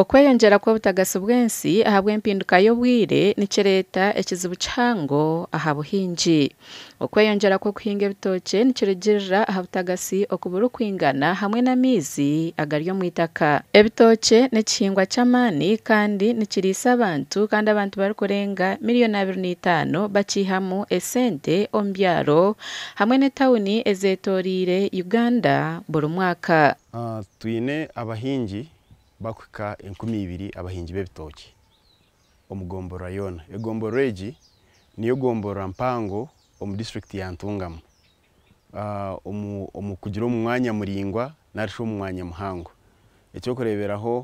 Okweyongyera kw'obutagasi bw'ensi ahabw'empinduka y'obwire nikireeta ekizibu kihango aha buhingi. Okweyongyera kw'okuhinga ebitookye nikirugiirira aha butagasi oku burikwingana hamwe n'amaizi agari omu itaka. Ebitookye n'ekihingwa ky'amaani kandi nikiriisa abantu kandi abantu barikurenga miriyoni abiri na itaano bakiihamu esente omu byaro hamwe n'etauni ezeetooreire Uganda buri mwaka. Twine abahingi bakuhika enkumi ibiri abahingi b'ebitookye omu gomborora yoona. Egomborora egi niyo gomborora mpango omu disiturikiti ya Ntungamo omu kugira omu mwanya muraingwa nari shi omu mwanya muhango. Eky'okureeberaho,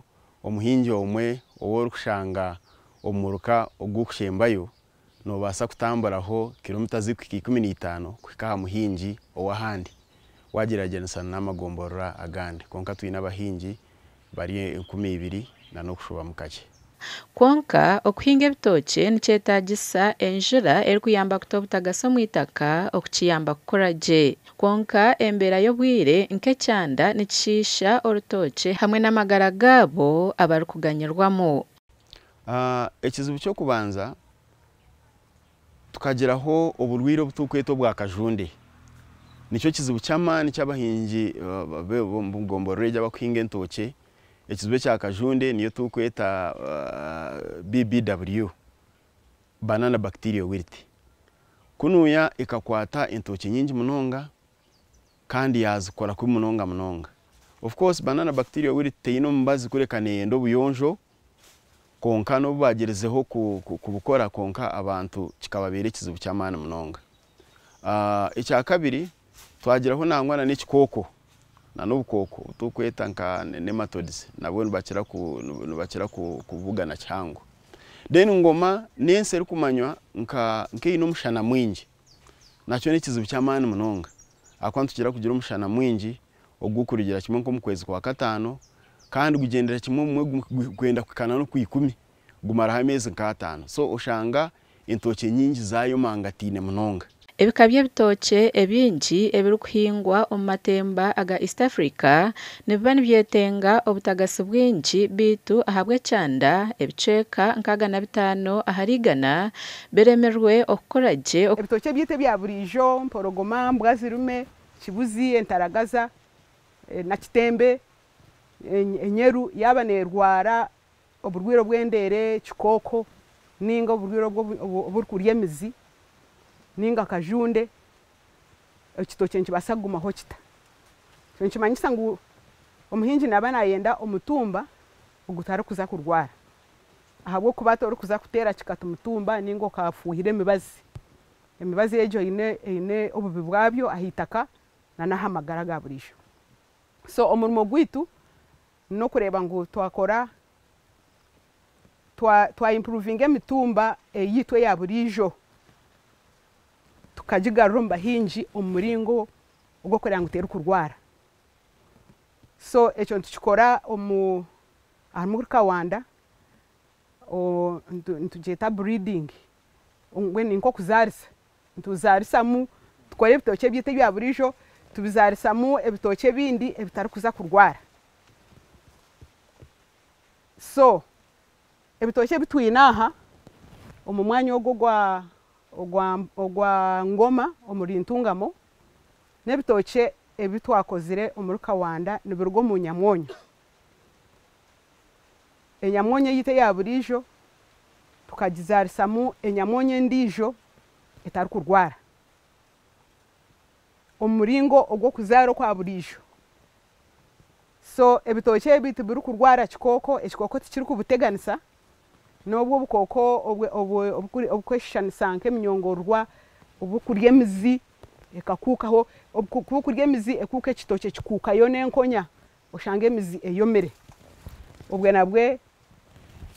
omuhingi omwe ou orikushanga omu muruka ogu orikushembayo Noobaasa kutamburaho kiromita zirikuhika ikumi na itaano kuhika aha muhingi ow'ahandi waagyeragyeranisa n'amagomborora agandi, kwonka twine abahingi bari enkumi ibiri na n'okushubamu kakye. Kwonka, okuhinga ebitookye nikyetaagisa enjura erikuyamba kuta obutagasi omu itaka okukiyamba kukura gye. Kwonka, embeera y'obwire nk'ekyanda nikishiisha orutookye hamwe n'amagara gaabo abarikuganyirwamu. Ekizibu ky'okubanza tukagiraho oburwaire obu turikweta obwa kajunde. Nikyo kizibu ky'amaani eki abahingi b'omu gomborora egi abarikuhinga entookye. Ekizibu ekya kajunde niyo turikweta BBW, Banana Bacterial Wilt. Ku nuuya ekakwata entookye nyingi munonga kandi yaazikora kubi munonga munonga. Of course, Banana Bacterial Wilt teine omubazi kureka neeyenda obuyonjo Kwonka n'obu baagirizeho kubikora, kwonka abantu kikababeera ekizibu ky'amaani munonga. Ekya kabiri, twagiraho nangwa n'ekikooko, n'obukooko obu turikweta nka nematodes, nabwo nibakira kubugana kihango. Then ngoma n'ensi erikumanywa nk'eine omushana mwingi. Nakyo n'ekizibu ky'amaani munonga ahakuba nitugira kugira omushana mwingi ogurikurugira kimwe nk'omu kwezi kwa kataano kandi gugyendera kimwe obumwe gwenda kuhikaana n'okwa ikumi gumaraho ameezi nk'ataano so oshanga entookye nyingi zaayomangataine munonga. Ebika by'ebitookye ebingi ebirikuhingwa omu matemba aga East Africa nibiba nibyetenga obutagasi bwingi beitu ahabw'ekyanda, ebicweka nkaaga na bitaano ahari igana, Biremirwe okukora gye. Ebitookye byaitu ebya buriijo, mporogoma, mbwa zirume, kibuzi, entaragaza, na kitembe, enyeru yaaba neerwara oburwaire obw'endeere, kikooko, nainga oburwaire obu oburikurya emizi, nainga kajunde, ekitookye nikibaasa kugumaho kita. Ekyo nikimanyisa ngu omuhingi naaba naayenda omutumba ogutarikuza kurwara. ahabw'okuba hati orikuza kuteera kikati mutumba ninga okafuuhira emibazi. Emibazi egyo eine obubi bwabyo aha itaka nana aha magara ga buriijo. So omurimo gwaitu n'okureeba ngu twakora, twa impuruvinga emitumba eyaitu eya buriijo, tukagigarura omu bahingi omu muringo ogw'okureeba ngu terikurwara. So ekyo nitukikora Ahari kawanda nitugyeta breeding mbwenu ni nk'okuzaarisa, nituzaarisamu tukore ebitookye byaitu ebya buriijo tubizaarisamu ebitookye ebindi ebitarikuza kurwara. So ebitookye ebi twine aha omu mwanya ogu ogwa Ngoma omuri Ntungamo, n'ebitookye ebi twakozire omuri Kawanda nibiruga omu nyamwonyo Enyamwonya yaitu eya buriijo tukagizaarisamu enyamwonya endiijo etarikurwara. Omu muringo ogw'okuzaara okwa buriijo, so ebitookye ebi tibirikurwara kikooko, ekikooko tikirikubuteganisa n'obu obukooko oburikweshushanisa nk'eminyongororwa oburikurya emizi ekakuukaho, obu burikuuka emizi ekuuka ekitookye kikuukayo n'enkonya. Oshange emizi eyomire. Obwe nabwe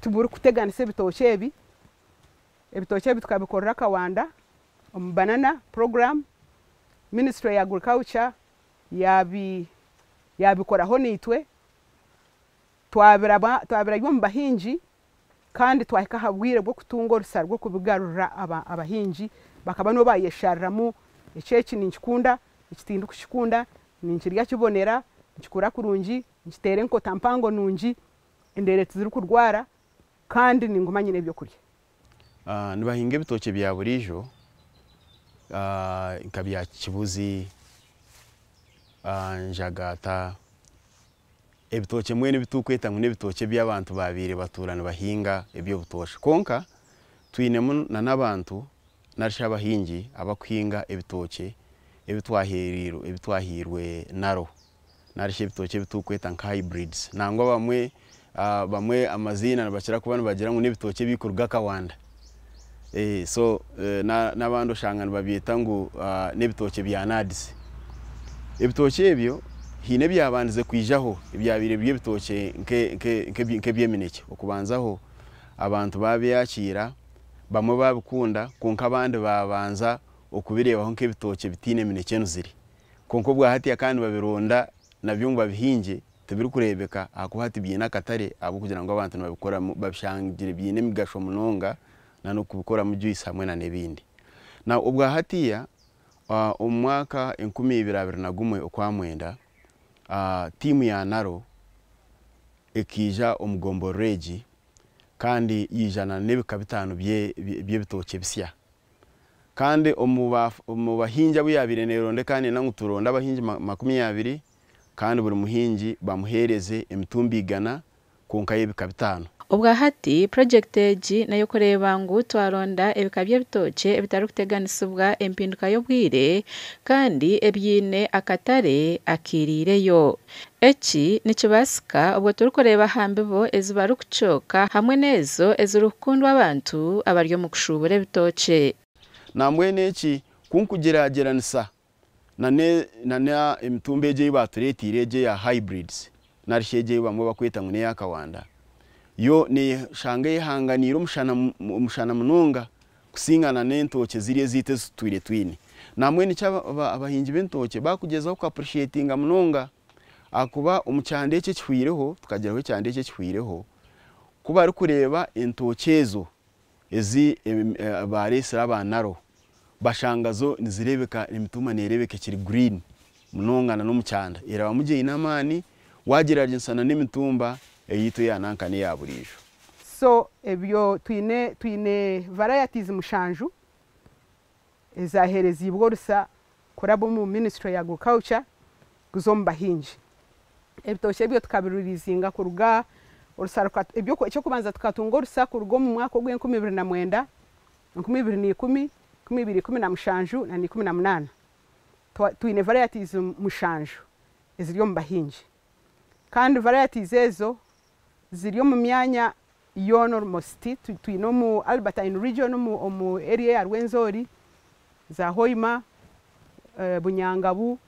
tiburi kuteganisa ebitookye ebi. Ebitookye ebi tukabikorera akawanda omu banana program. Ministry ya agriculture yabi yabikoraho naitwe twabiraba twabirabya omu bahingi Kandi twahika aha bwire bw'okutunga orusa rw'okubigarurira, abahingi bakaba nibo baayeshariramu eki, eki ninkikunda, eki tindikukikunda, ninkirya kibonera, nikikura kurungi, nikiteera enkota mpango nungi, endeere tizirikurwara kandi ninguma nyine ebyokurya. Nibahinga ebitookye bya buriijo nka bya kibuzi, njagaata. Ebitookye mbwenu ebi turikweta ngu n'ebitookye ebi abantu baabaire batuura nibahinga eby'obutoosha. Kwonka twinemu n'abantu nari shi abahingi abarikuhinga ebitookye ebi twahairwe naro nari shi ebitookye ebi turikweta nka hybrids nangwa abamwe amaziina nibakira kuba nibagira ngu n'ebitookye ebirikuruga Kawanda. N'abandi oshanga nibabyeta ngu n'ebitookye bya naadizi. Ebitookye ebyo haine ebyabandize kwijaho ebyabaire biri ebitookye nk'ebyeminekye. Okubanzaho abantu baabyakiira bamwe baabikunda kwonka abandi baabanza kubireebaho nk'ebitookye ebitaine eminekye emizire. Kwonka obwahatiya kandi nibabironda nabyo ngu babihingye Tibirikureebeka ahakuba hati biine akatare ahabw'okugira ngu abantu nibabikoramu babishangire biine emigasho munonga n'okubikoramu juice hamwe n'ebindi. Now obwa hatiiya omu mwaka enkumi ibiri abiri na gumwe okwa mwenda tiimu ya Naro ekaija omu gomborora egi kandi yaijana n'ebika bitaano by'ebitookye bisya kandi omu bahingi abu yaabaire neeronda ekaneena ngu turonde abahingi makumi abiri, kandi buri muhingi bamuheereze emitumba igana kwonka y'ebika bitaano. Obwa hati, purojekiti egi n'ey'okureeba ngu twaronda ebika by'ebitookye ebitarikuteganisibwa empinduka y'obwire kandi ebiine akatare akairiireyo. Eki nikibaasika obwo turikureeba aha mbibo ezi barikucooka hamwe n'ezo ezirikukundwa abantu abari omu kushuubura ebitookye. Nambwenu eki ku nkugiraagiranisa na n'emitumba egi ei baatureeteire egi eya hybrids nari shi egi ei bamwe barikweta ngu n'eya kawanda, yo neeshanga eyehanganiire omushana munonga kusinga na n'entookye ziri ezaitu ezi tutwire twine. Nambwenu eki abahingi b'entookye baakugyezaho ku appreciatinga munonga ahakuba omu kyanda eki ekihweireho, tukagiraho ekyanda eki ekihweireho, ku barikureeba entookye ezo ezi baareetsire aba Naro bashanga zo nizireebeka emituuma neereebeka ekiri green munonga na n'omu kyanda erabamu gye eine amaani waagyeraagyerisa na n'emituumba eyaitu eya nanka n'eya buriijo. So ebyo twine twine varieties mushanju ezaaheereziibwe orusa kuraba omu minisitule ya Agriculture kuza omu bahingi. Ebitookye ebyo tukabiririizinga kuruga orusa eky'okubanza tukatunga orusa kuruga omu mwaka ogw'enkumi ibiri na mwenda, enkumi ibiri na ikumi, enkumi ibiri ikumi na mushanju na ikumi na munaana. Twine varayatiizi mushanju eziri omu bahingi kandi varayatiizi ezo ziri omu myanya yoona orumositi twine omu Albertine region omu area eya Rwenzori, za Hoima, Bunyangabu,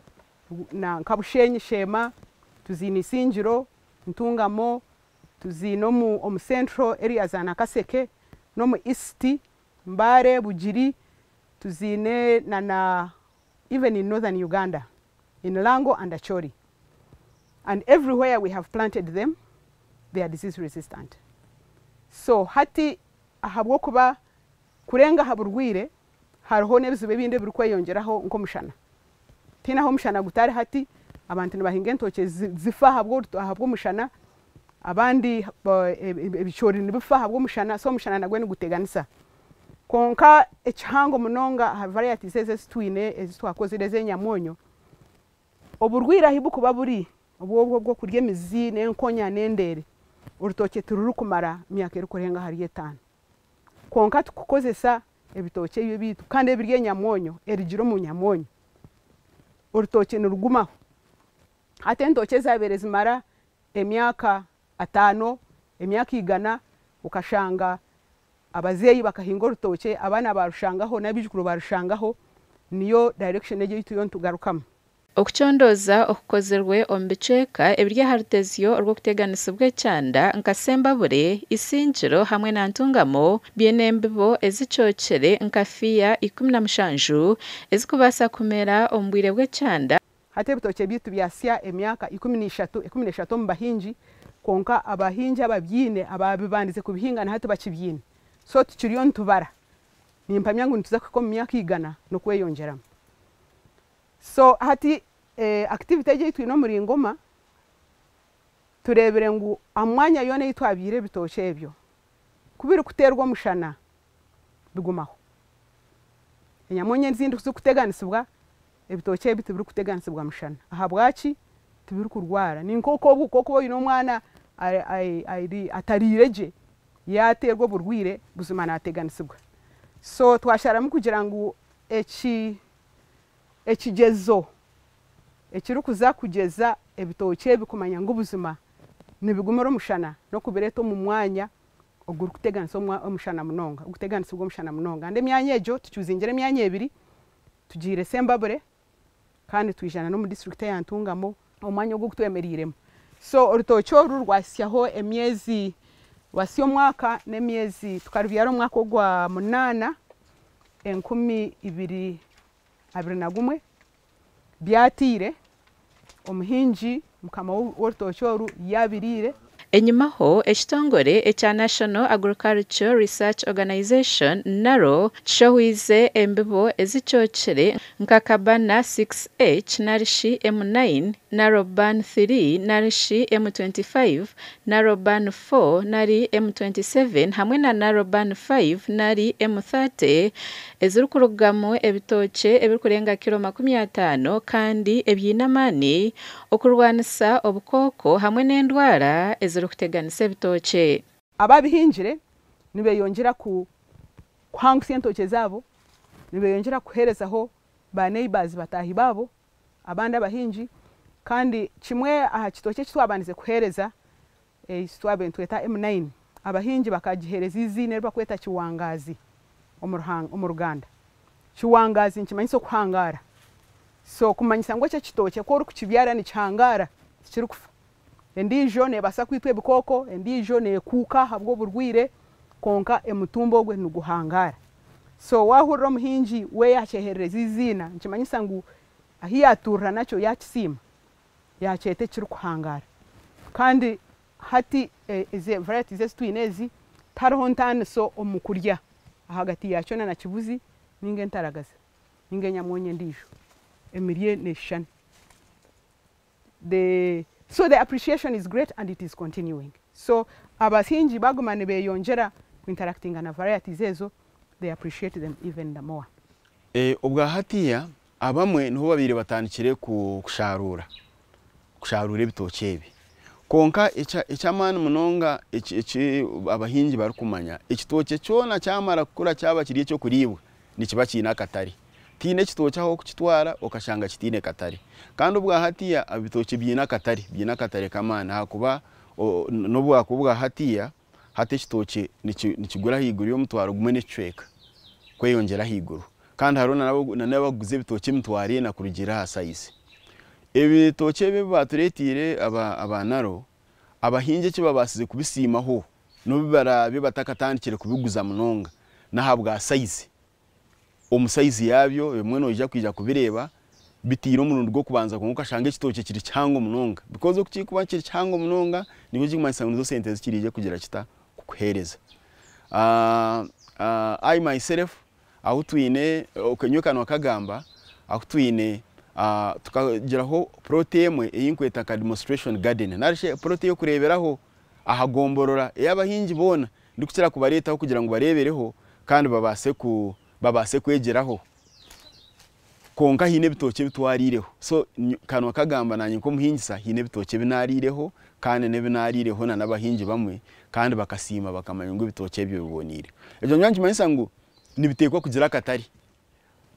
nanka Bushenyi sheema, tuziine Isingiro, Ntungamo, tuziine omu central area za Nakaseke, nomu East, Mbare, Bugiri, tuziine na even in Northern Uganda. in Lango and Acholi and every where we have planted them they are disease resistant so hati ahabwokuba kurenga aha burwiire hariho nebizibu ebindi ebirikweyongyeraho nkomushana tihaine ahu omushana gutari hati abantu nibahinga entookye zifa ahabwomushana abandi ebicoori nibifa ahabwomushana so omushana nagwe niguteganisa. Kwonka ekihango munonga aha varieties ezi ezi twine ezi twakozire ez'enyamwonyo, oburwaire ahi burikuba buri obwobwo obw'okurya emizi n'enkonya n'endeere, orutookye tirurikumara myaka erikurenga ahari etaano. Kwonka tukukozesa ebitookye ebi ebyaitu kandi ebiri enyamwonyo, erigire omu nyamwonyo, orutookye nirugumaho. Hati entookye zaabaire zimara emyaka ataano, emyaka igana, okashanga abazeeyi bakahinga orutookye, abaana baarushangaho n'abaijukuru baarushangaho, niyo direction egi ei turiyo nitugarukamu. Okucondooza okukozirwe omu bicweka ebiri aha rutezyo orw'okuteganisibwa ekyanda nka Sembabule, Isingiro hamwe na Ntungamo biine embibo ezicookire nka fiya ikumi na mushanju ezikubaasa kumera omu bwire bw'ekyanda, Hati ebitookye byaitu byasya emyaka ikumi na ishatu, ikumi na ishatu omu bahingi, kwonka abahingi ababyaine abaabibandize kubihinga nahati bakibyaine. So tukiriyo nitubara. Nimpamya ngu nituza kuhika omu myaka igana n'okweyongyeramu. So hati activity egi ei twine omuri Ngoma, tureebire ngu aha mwanya yoona ei twabyaire ebitookye ebyo, ku birikuteerwa omushana, bigumaho. Enyamunya ezindi ku zirikuteganisibwa, ebitookye ebi tibirikuteganisibwa mushana. Ahabwaki? Tibirikurwara. Ni nk'oku oku waaba oine omwana atariire gye, yaaterwa oburwaire buzima naateganisibwa. So twasharamu kugira ngu ekigyezo ekirikuza kugyeza ebitookye ebi kumanya ngu buzima nibigumira omushana n'okubireeta omu mwanya ogurikuteganisa omushana munonga, oguteganisibwe omushana munonga. Kandi emyanya egyo tukyuzingire emyanya ebiri, tugiire Sembabure kandi twija n'omu disiturikiti eya Ntungamo. Omwanya ogu ogutwemereiremu. So orutookye oru rwahitsyaho emyezi, rwatsya omwaka n'emyezi, tukarubyara omu mwaka ogwa munaana, enkumi ibiri abiri na gumwe, byataire, omuhingi mukama w'orutookye oru yaabiriire. Enyimaho, ekitongore ekya National Agricultural Research Organization, NARO, kishohwize embibo ezicookire nka Cabana six H nari shi M nine, NARO Ban three nari shi M twenty five, NARO Ban four nari M twenty seven hamwe na NARO Ban five nari M thirty, ezirikurugamu ebitookye ebirikurenga kiro makumi ataano kandi ebiine amaani okurwanisa obukooko hamwe n'endwara ezirikuteganisa ebitookye. Abaabihingire nibeyongyera kuhangutsya entookye zaabo, nibeyongyera kuheerezaho ba neighbours, bataahi baabo, abandi abahingi kandi kimwe aha kitookye eki twabandize kuheereza Eisitwe abe nitweta M9, abahingi bakagiheereza eiziina eri bakweta Kiwangaazi omu Ruganda. Kiwangaazi nikimanyisa okuhangaara. So kumanyisa ngu ekyo ekitookye ku orikukibyara nikihangaara, tikirikufa. Endiijo neebaasa kwitwa ebikooko, endiijo neekuuka ahabw'oburwaire, kwonka emutumba ogwe niguhangaara. So waahurira omuhingi we yaakyeherereza eiziina, nikimanyisa ngu ahu yaatuurira nakyo yaakisiima, yaakyeta ekirikuhangara kandi hati ezi varieties ezi twine ezi tihariho ntaaniso omu kurya ahagati yaakyo na kibuzi nainga entaragaza nainga enyamwonyo endiijo emirye neeshushana so the appreciation is great and it is continuing so abahingi baaguma nibeeyongyera ku interactinga na varieties ezo they appreciate them even the more. Obwa hatiiya Abamwe niho babaire batandikire kushaaruura kushaaruura ebitookye ebi. Kwonka eky'amaani munonga eki abahingi barikumanya, ekitookye kyona kyamara kukura kyaba kiri eky'okuriibwa, nikiba kiine akatare. Tihaine kitookye ahu orikukitwara okashanga kitaine katare. Kandi obwa hatiiya ebitookye biine akatare, biine akatare k'amaani ahakuba n'obwakuba obwa hatiiya, Hati ekitookye nikigura ahaiguru y'omutwaro gumwe n'ekicweka kweyongyera ahaiguru kandi hariho nana abarikuguza ebitookye emitwaro ena kurugiirira aha sayizi. Ebitookye ebi ebibaatureeteire aba Naro, abahingi eki babaasize kubisiimaho n'obu baraabire batakatandikire kubiguza munonga n'ahabwa sayizi. omu sayizi yaabyo, ebimwe noija kwija kubireeba bitaire omurundi gw'okubanza kwonka okashanga ekitookye kiri kihango munonga bikozi oku kirikuba kiri kihango munonga nikyo kirikumanyisa ngu nizo sente zikiriije kugira kita kukuheereza. I myself ahu twine ok nyowe ka nookagamba ahu twine tukagiraho plooti emwe ei nkweta nka demonstration garden nari shi plooti ey'okureeberaho aha gomborora ey'abahingi boona Ndikukira kubareetaho kugira ngu bareebereho kandi babaase kwegyeraho. Kwonka haine ebitookye ebi twariireho. So, kanwa kagamba naanye nk'omuhingisa haine ebitookye ebi naariireho kandi n'ebi naariireho n'abahingi bamwe kandi bakasiima bakamanya ngu ebitookye ebyo biboneire. Ekyo nikyo nikimanyisa ngu nibiteekwa kugira akatare.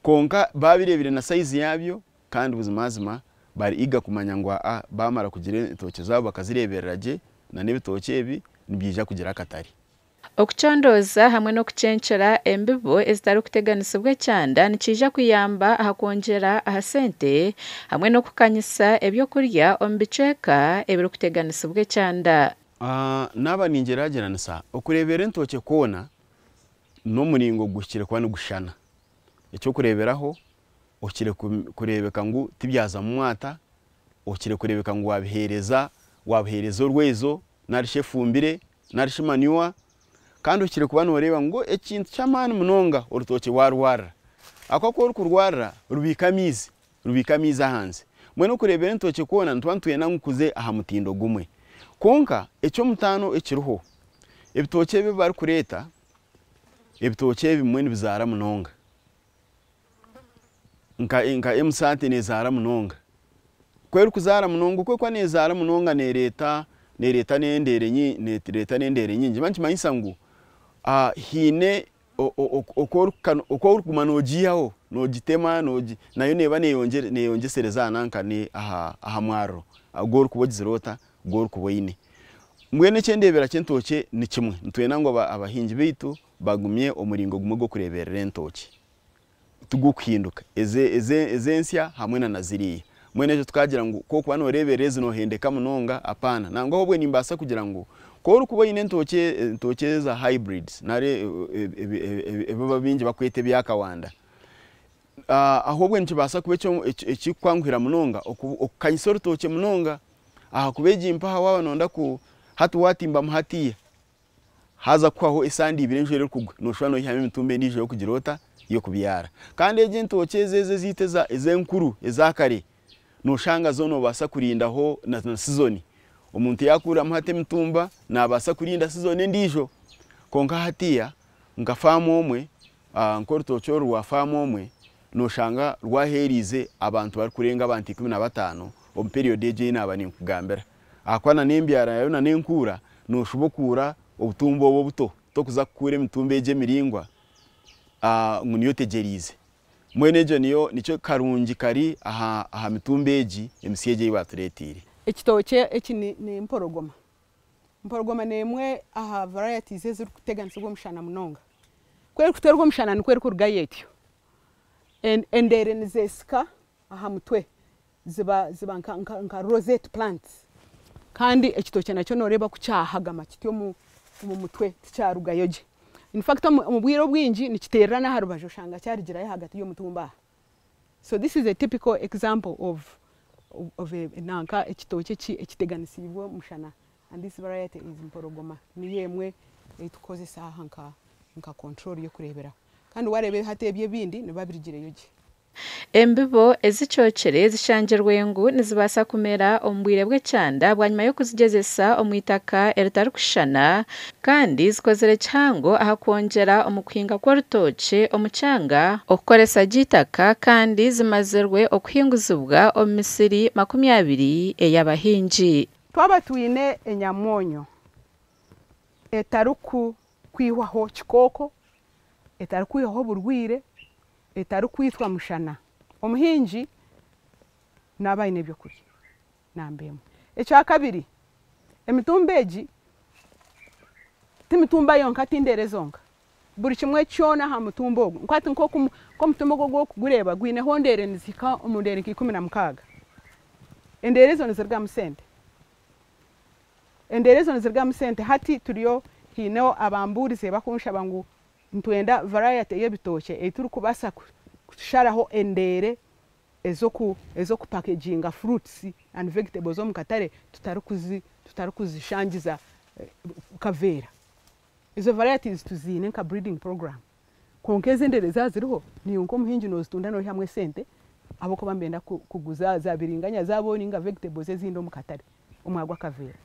Kwonka baabireebire na saizi yaabyo, Kandi buzimazima bariiga kumanya ngu aa baamara kugira entookye zaabo bakazireeberera gye, na n'ebitookye ebi nibyija kugira akatare. Okucondooza hamwe n'okucenkyera embibo ezitarikuteganisibwa ekyanda nikiija kuyamba aha kwongyera aha sente hamwe n'okukanyisa eby'okurya omu bicweka ebirikuteganisibwa ekyanda. Naaba ningyeragyeranisa, okureeberera entookye kwona n'omuringo guhikire kuba nigushushana. Eky'okureeberaho, Okire kureebeka ngu tibyazamu mwata, okire kureebeka ngu wabiheereza, wabuheereza orwaizo nari shi efumbire nari shi manure kandi okire kuba noreeba ngu ekintu ky'amaani munonga orutookye warwarira ahakuba ku orikurwarira rubiika amaizi, rubiika amaizi ahansi mbwenu okureebera entookye kwona nituba nitwenda ngu kuze aha mutindo gumwe kwonka eky'omutaano ekiriho ebitookye ebi barikureeta, ebitookye ebimwe nibizaara munonga. nka emisaate nezaara munonga, ku erikuzaara munonga okwo erikuba nezaara munonga nereeta n'endeere nyingi nikiba nikimanyisa ngu haine oku orikuguma nogiihaho nogitema nayo neeba neyeyongyesereza aha mwaaro ogu orikuba ogizire ota, ogu orikuba oine. Mbwenu ekyendeebera ky'entookye nikimwe nitwenda ngu abahingi beitu bagumye omuringo gumwe gw'okureeberera entookye. tigurikuhinduka ezi ensya hamwe na ziriya. Mbwenu ekyo tukagira ngu ku orikuba nooreeberera ezi noohendeka munonga, apaana. Nangwa obwe nimbaasa kugira ngu ku orikuba oine entookye eza hybrids nari ebi abaingi barikweta ebya kawanda, ahobwe nikibaasa kuba ekirikukwanguhira munonga kukanyisa orutookye munonga ahakuba egi mpaha waaba nooyenda ku hati waatimbamu hatiiya, Haza kuhwaho esaaha ngu eibiri enjura erikugwa, noshusha noihamu emitumba endiijo y'okugira ota? Y'okubyara. Kandi egyo entookye ezo ezo ezaitu eza ez'enkuru eza kare, noshanga zo nobaasa kurindaho na na sizoni. Omuntu yakuuriramu hati emitumba, nabaasa kurinda sizoni endiijo. Kwonka hatiiya nka faamu omwe, Nk'orutookye oru rwa faamu omwe, nooshanga rwaheereize abantu barikurenga abantu ikumi na bataano omu periyodi egi ei naaba ninkugambira. Ahakuba nana embyara yaayo nana enkuura, nooshuba okuura obutumba obu obuto, tokuza kukuura emitumba egi emiraingwa ngu niyo otegyereize. Mbwenu egyo niyo nikyo karungi kari aha aha mitumba egi emisya egi ei baatureeteire. Ekitookye eki ni n'empologoma. Empologoma n'emwe aha varieties ezirikuteganisibwa omushana munonga. Ku erikuterwa omushana nikwo erikurugayo etyo. Endeere nizeesika aha mutwe ziba nka rosette plants. Kandi ekitookye nakyo nooreeba ku kyahagama kiti omu mutwe tikyarugayo gye. Infact omu bwire obwingi nikiteerera n'aha rubaju oshanga kyarugirayo ahagati y'omutumba aha. So this is a typical example of of a nanka ekitookye eki ekiteganisiibwe omushana and this variety is mpologoma niyo emwe ei tukukozesa aha nka nka control y'okureeberaho kandi waareeba hati ebi ebindi nibiba birigireyo gye. Embibo ezicookire zishangirwe ngu nizibaasa kumera omu bwire bw'ekyanda bwanyima y'okuzigyezesa omu itaka eritarikushushana. Kandi zikozire kihango aha kwongyera omu kuhinga kw'orutookye omu kyanga. Okukoresa gye eitaka kandi zimazirwe okuhinguzibwa omu misiri makumi abiri ey'abahingi. Twaba twine enyamoonyo etarikwihwaho kikooko, etarikwihwaho oburwaire, etarikwitwa mushana, omuhingi naaba aine eby'okurya. namba emwe. Ekya kabiri, emitumba egi ti mitumba yonka, ti ndeere zonka. Buri kimwe kyona aha mutumba ogu, nk'oku hati omutumba ogu oku orikugureeba gwineho endeere nizihika omu ndeere nka ikumi na mukaaga. Endeere ezo nizirugamu sente. Endeere ezo nizirugamu sente. Hati turiyo haineho abambuurize bakunshaba ngu nitwenda varayati ey'ebitookye ei turikubaasa kusharaho endeere ez'okupakeginga fruits and vegetables omu katare tutarikuzishangiza kaveera. Ezo varieties tuziine nka breeding program kwonka ezo endeere zaaba ziriho niiwe nk'omuhingi noozitunda noihamu esente ahabw'okuba nibenda kuguza zaabiringanya zaabo nainga vegetables ezindi omu katare omwago akaveera.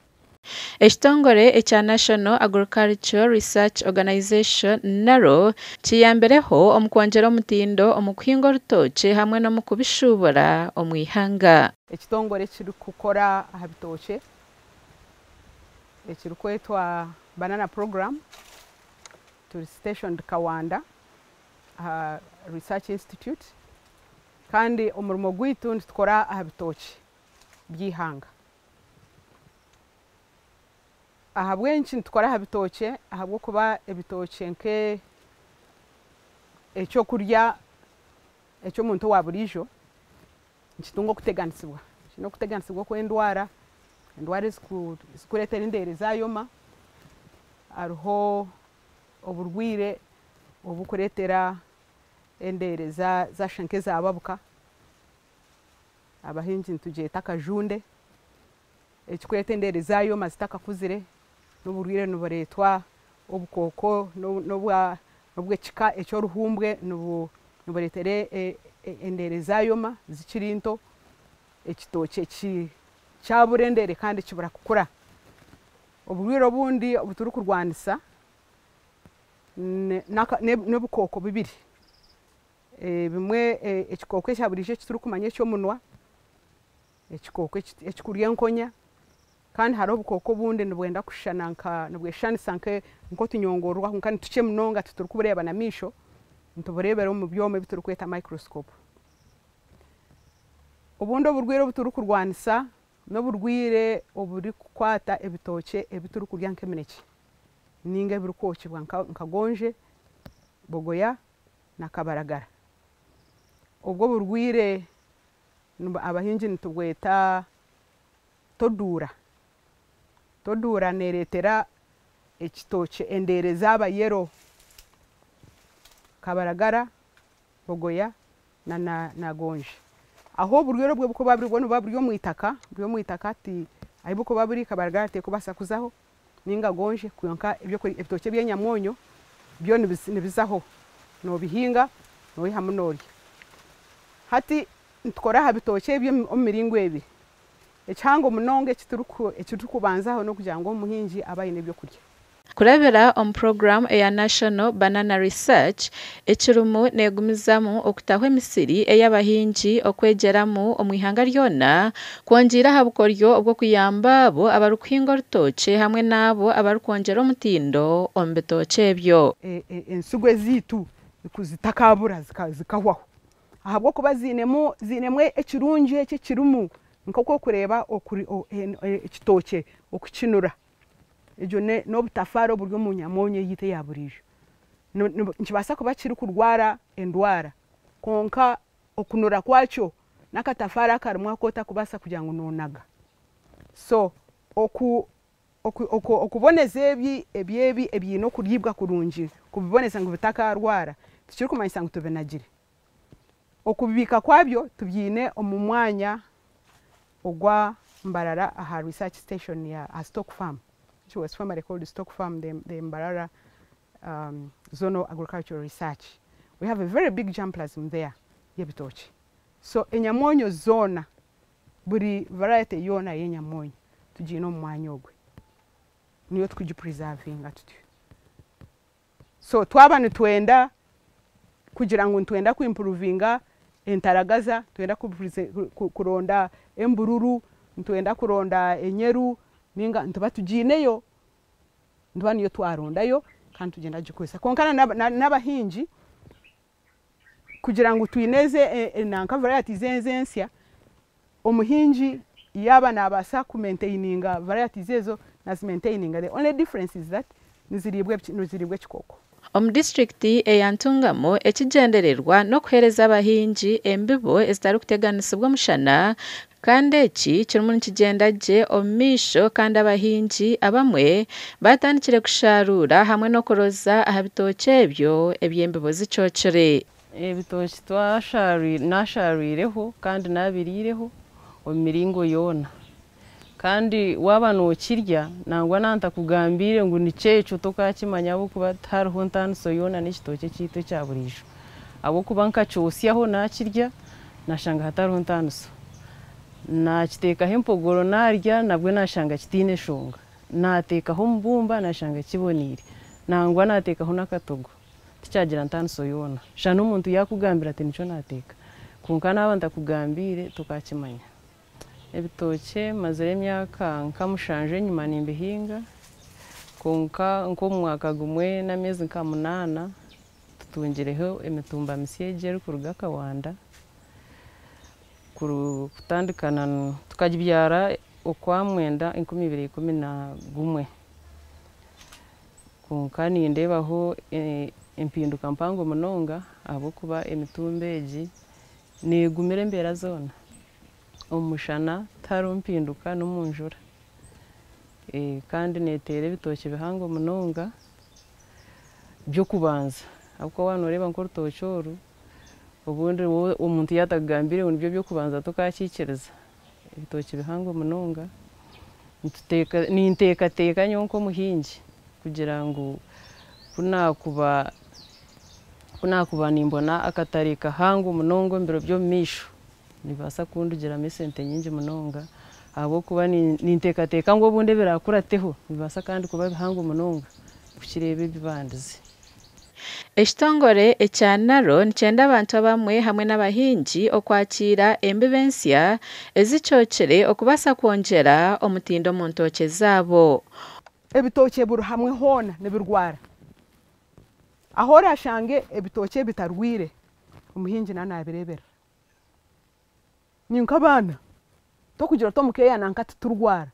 Ekitongore ekya National Agricultural Research Organization, NARO, kiyambireho omu kwongyera omutindo omu kuhinga orutookye hamwe n'omu kubishuubura omu ihanga. Ekitongore ekirikukora aha bitookye ekirikwetwa Banana Program turi stationed Kawanda aha Research Institute kandi omurimo gwaitu nitukora aha bitookye by'eihanga. Ahabw'enki nitukora aha bitookye? Ahabw'okuba ebitookye nk'eky'okurya eky'omuntu owa buriijo nikitunga okuteganisibwa. Kiine okuteganisibwa okw'endwara, endwara ezikureetera endeere zaayoma, hariho oburwaire oburikureetera endeere zaashusha nk'ezaababuka. abahingi nitugyeta akajunde ekirikwetwa endeere za yooma zitakakuzire n'oburwaire nibureetwa obukooko n'obw'ekika eky'oruhumbwe nibureetera endeere zaayooma zikiri nto, ekitookye kyabura endeere kandi kibura kukura, oburwaire obundi obu turikurwanisa n'obukooko bubiri Ebimwe ekikooko ekya buriijo eki turikumanya eky'omunwa, ekikooko ekikurya enkonya kandi hariho obukooko obundi nibwenda kushushana nka nibweshushanisa nk'otunyongororwa kwonka ni tukye munonga tituribureeba n'amaisho nitubureebera omu byoma ebi turikweta microscope. Obundi oburwaire obu turikurwanisa n'oburwaire oburikukwata ebitookye ebi turikurya nk'eminekye nainga ebirikwokyibwa nka goonzye, bogoya na kabaragara. Obwo oburwaire abahingi nitubweta toduura. Toduura nereetera ekitookye endeere zaaba yellow. Kabaragara, bogoya na gonja. Ahu oburwaire obwo burikuba buri bwoona buba buri omwitaka, buri omwitaka hati ahu burikuba buri kabaragara tekubaasa kuzaho ninga gonje kwonka ebitookye ebyenyamwonyo byo nibizaho nobihinga noyihamu norya hati nitukora aha bitookye ebyo omu miringo ebiri ekihango munonga ekirikubanzaho nokugira ngu omuhingi abe aine ebyokurya. Kurabira omu puroguramu eya National Banana Research ekirimu neegumizamu okutaho emisiri ey'abahingi, okwegyeramu omu ihanga ryona, kwongiire aha bukoryo bw'okuyamba abo abarikuhinga orutookye hamwe n'abo abarikwongyera omutindo omu bitookye ebyo. Ensigo ezaitu zitakaabura zikahwaho ahabw'okuba ziinemu ekirungi eki ekirimu, nk'oku orikureeba ekitookye oku kinura. Egyo n'obutafaara oburi omu nyamonya eyaitu eya buriijo. Nikibaasa kuba kirikurwara endwara kwonka okunura kwakyo n'akatafaari akarimu aku otarikubaasa kugira ngu noonaga. So okuboneza ebi ebi ebiine okuriibwa kurungi, kubiboneza ngu bitakarwara tikirikumanyisa ngu tubinagire. Okubibiika kwabyo tubyiine omu mwanya ogwa Mbarara aha research station ya aha stock farm which was formerly called stock farm the the Mbarara zonal agricultural research we have a very big jamplasm there y'ebitookye so enyamoonyo zoona buri variety yoona y'enyamoonyo tugyiine omu mwanya ogwe niyo tukugi preservinga tutyo. so twaba nitwenda kugira ngu nitwenda ku impuruvinga entaragaza, nitwenda kuronda embururu, nitwenda kuronda enyeru ninga nituba tugiineyo, nituba niyo twarondayo kandi nitugyenda kugikoresa kwonka n'abahingi. kugira ngu twine ezi nanka varayati izi enzi ensya, omuhingi yaaba naabaasa kumentaininga varayati izi ezo naazimentaininga the only difference is that niziriibwa niziriibwa ekikooko. Omu disiturikiti eya Ntungamo ekigyendererwa n'okuheereza abahingi embibo ezitarikuteganisibwa omushana Kandi eki kirimu nikigyenda gye omu maisho kandi abahingi abamwe baatandikire kushaaruura hamwe n'okuroza aha bitookye ebyo eby'embibo zicookire. Ebitookye twashaarwire, naashaarwireho kandi naabiriireho omu miringo yoona. Kandi waaba nookirya, nangwa na ntakugambiire ngu nikyo ekyo, tokaakimanya ahabw'okuba tihariho ntaaniso yoona n'ekitookye kyaitu ekya buriijo. ahabw'okuba nkakyotsyaho naakirya naashanga hatariho ntaaniso. Naakiteekaho empogoro naarya nabwo naashanga kitaine nshonga. Naateekaho omubumba naashanga kiboneire. Nangwa naateekaho n'akatogo tikyagira ntaaniso yoona. Shana omuntu yaakugambira ati nikyo naateeka kwonka naaba ntakugambiire tokaakimanya. Ebitookye mazire emyaka nka mushanju enyima nimbihinga kwonka nk'omu mwaka gumwe n'ameezi nka munaana Tutungireho emitumba misya egi erikuruga Kawanda kutandika na tukagibyara okwa mwenda enkumi ibiri ikumi na gumwe kwonka nindeebaho empinduka mpango munonga ahabw'okuba emitumba egi neegumira embeera zoona, omu mushana tihariho mpinduka n'omu njura kandi neeteera ebitookye bihango munonga by'okubanza ahabw'okuba waaba nooreeba nk'orutookye oru, obundi wowe omuntu yaaba atakugambire ngu nibyo by'okubanza tokaakiikiriza, ebitookye bihango munonga, nituteeka ninteekateeka nyowe nk'omuhingi kugira ngu ku naakuba ku naakuba nimbona akatare kahango munonga omu biro by'omumaisho, Nibibaasa kundugiramu esente nyingi munonga ahabw'okuba ninteekateeka ngu obundi ebiraakurateho nibibaasa kandi kuba bihango munonga kukira ebi ebi bandize. Ekitongore ekya NARO nikyenda abantu abamwe hamwe n'abahingi okwakiira embibo ensya ezicookire okubaasa kwongyera omutindo omu ntookye zaabo. Ebitookye buri hamwe hoona nibirwara. Ahu oraashange ebitookye ebitarwaire, omuhingi naanaabireeberera. Ni nk'abaana, tokugira oti omu keeya nanka titurwara.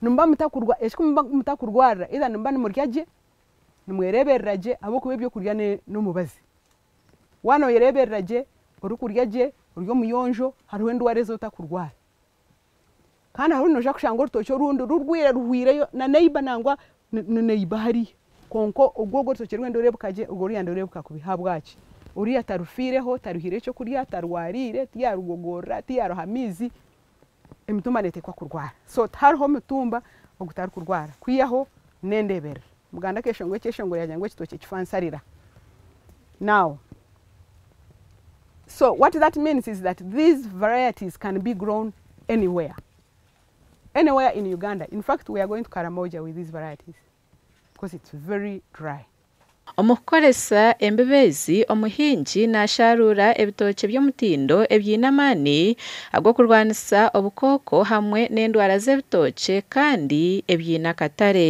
Nimuba mutakurwa eki kumuba mutakurwarira either nimuba nimurya gye, nimwereeberera gye ahabw'okuba ebyokurya ne n'omubazi. Waanoyereeberera gye, orikurya gye, ori omuyonjo, hariho endwara ezi otakurwara. Kandi hariho noija kushanga orutookye orundi rurwaire ruhwireyo na neighbour nangwa ni neighbour hariya kwonka ogwo ogwo orutookye rwenda oreebeka gye ogwo oruyandi oreebeka kubi. Ahabwaki? Oriya tarufiireho, tarihaire ekyokurya, tarwariire, tiyaarugogorora, tiyaaruha amaizi, emitumba neeteekwa kurwara. So tihariho mutumba ogutarikurwara kwihaho n'endeeberera. Muganda akeshongora ekyeshongoro yagira ngu ekitookye kifa nsarira. Now so what that means is that these varieties can be grown anywhere anywhere in Uganda in fact we are going to Karamoja with these varieties because it's very dry. Omu kukoresa embibo ezi, omuhingi naasharuura ebitookye by'omutindo ebiine amaani ag'okurwanisa obukooko hamwe n'endwara z'ebitookye kandi ebiine akatare.